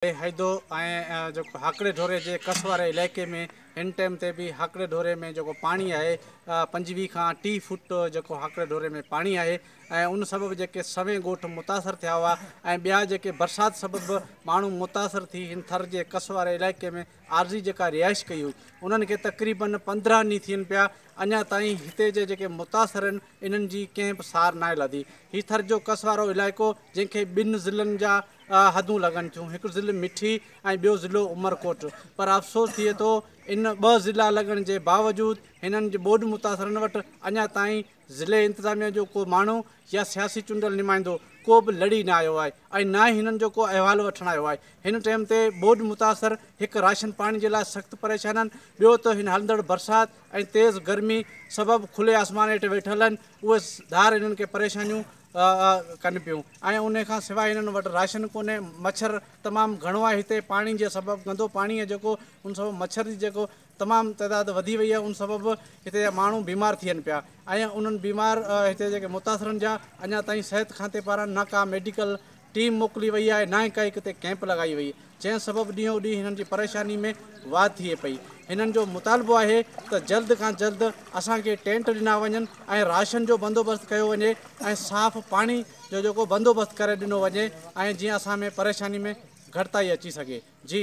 بي حيدو ۽ جيڪو هاڪڙي ڍوري جي ڪس واري علائقي ۾ هن ٽائيم تي به هاڪڙي ڍوري ۾ جيڪو پاڻي آهي پنجويهه کان ٽيهه فوٽ جيڪو هاڪڙي ڍوري ۾ پاڻي آهي ۽ ان سبب جيڪي سوين ڳوٺ متاثر ٿيا هئا ۽ ٻيا جيڪي برسات سبب ماڻهو متاثر ٿي هن ٿر جي ڪس واري علائقي ۾ عارضي جيڪا رهائش ڪئي هئي انهن کي تقريباً پندرهن ڏينهن ٿين پيا اڃا تائين هتي جا جيڪي متاثر آهن انهن جي ڪنهن به سار ناهي لڌي هي ٿر جو ڪس وارو علائقو جنهن کي ٻن ضلعن جا حدون لڳن ٿيون هڪ ضلع مٺي ۽ ٻيو ضلعو عمرڪوٽ پر افسوس ٿئي ٿو ان ٻه ضلعا لڳڻ جي باوجود هنن جي ٻوڏ متاثرن وٽ اڃا تائين ضلعي انتظاميه جو ڪو ماڻهو يا سياسي چونڊيل نمائندو ڪو به لڙي نه آيو آهي ۽ نه ئي هنن جو ڪو احوال وٺڻ آيو آهي هن ٽئيم تي ٻوڏ متاثر هڪ راشن پاڻي جي لاء سخت پريشان آهن ٻيو ته هن هلندڙ برسات ۽ تيز گرمي سبب کلي آسمان هيٺ ويٺل آهن اهي ڌار هنن کي پريشانيون ڪن پيون ۽ ان کان سواء هنن وٽ راشن ڪونهي مڇر تمام گهڻو آهي هتي پاڻي جي سبب گندو پاڻي آهي جيڪو ان سبب مڇر جي جيڪو تمام تعداد وڌي وئي آهي ان سبب هتي جا ماڻهو بيمار ٿين پيا ۽ انهن بيمار هتي جيڪي متاثرن جا اڃا تائين صحت کاتي پاران نه ڪا ميڊيڪل ٽيم موڪلي وئي آهي نه ئي ڪا ڪتي ڪيمپ لڳائي وئي جنهن سبب ڏينهون ڏينهن هنن جي پريشاني ۾ واڌ ٿئي پئي هنن جو مطالبو آهي ته جلد کان جلد اسان کي ٽينٽ ڏنا وڃن ۽ راشن جو بندوبست ڪيو وڃي ۽ صاف پاڻي جو جيڪو بندوبست ڪري ڏنو وڃي ۽ جيئن اسان ۾ پريشاني ۾ گهٽتائي اچي سگهي جي